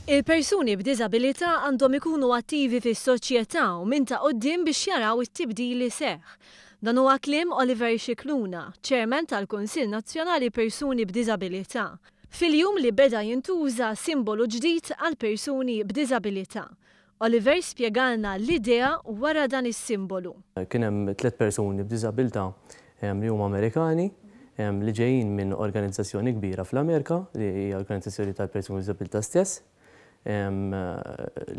Il-persuni b'diżabilità għandhom ikunu attivi fis-soċjetà u minn ta' quddiem biex jaraw it-tibdil li seħħ. Dan huwa kliem Oliver Scicluna, Chairman tal-Kunsill Nazzjonali Persuni b'Diżabilità, fil-jum li beda jintuża simbolu ġdid għall-persuni b'diżabilità. Oliver spjegalna l-idea wara dan is-simbolu. Kien hemm tliet persuni b'diżabilità li huma Amerikani li ġejjin minn organizzazzjoni kbira fl-Amerika li hija organizzazzjoni tal-persuni b'diżabilità stess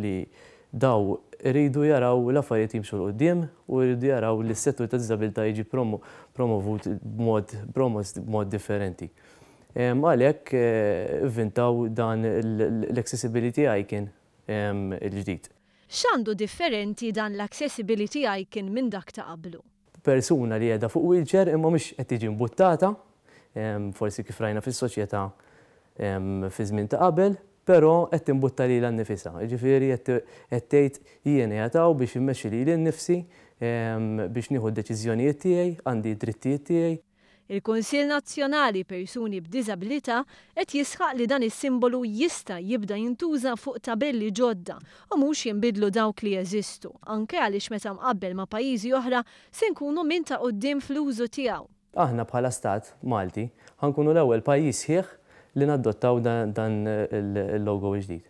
li dawn iridu jaraw l-affarijiet jimxu 'l quddiem u jridu jaraw li s-settur tad-diżabilità jiġi promovut b'mod promost b'mod differenti. Għalhekk ivvintaw dan l-Accessibility Icon il-ġdid. X'għandu differenti dan l-Accessibility Icon minn dak ta' qablu? Persuna li qiegħda fuq wheelchair imma mhux qed tiġi mbuttata, forsi kif rajna fis-soċjetà fiż-żmien ta' qabel, però qed timbutta lilha nnifisha, jiġifieri qed tgħid jien qiegħed hawn biex immexxi lili nnifsi, biex nieħu d-deċiżjonijiet tiegħi, għandi d-drittijiet tiegħi. Il-Kunsill Nazzjonali Persuni b'Diżabilità qed jisħaq li dan is-simbolu jista' jibda jintuża fuq tabelli ġodda u mhux jinbidlu dawk li jeżistu, anke għaliex meta mqabbel ma' pajjiżi oħra se nkunu minn ta' quddiem fl-użu tiegħu. Aħna bħala Stat Malti ħa nkunu l-ewwel pajjiż sħiħ li nadottaw dan il-logo l-ġdid.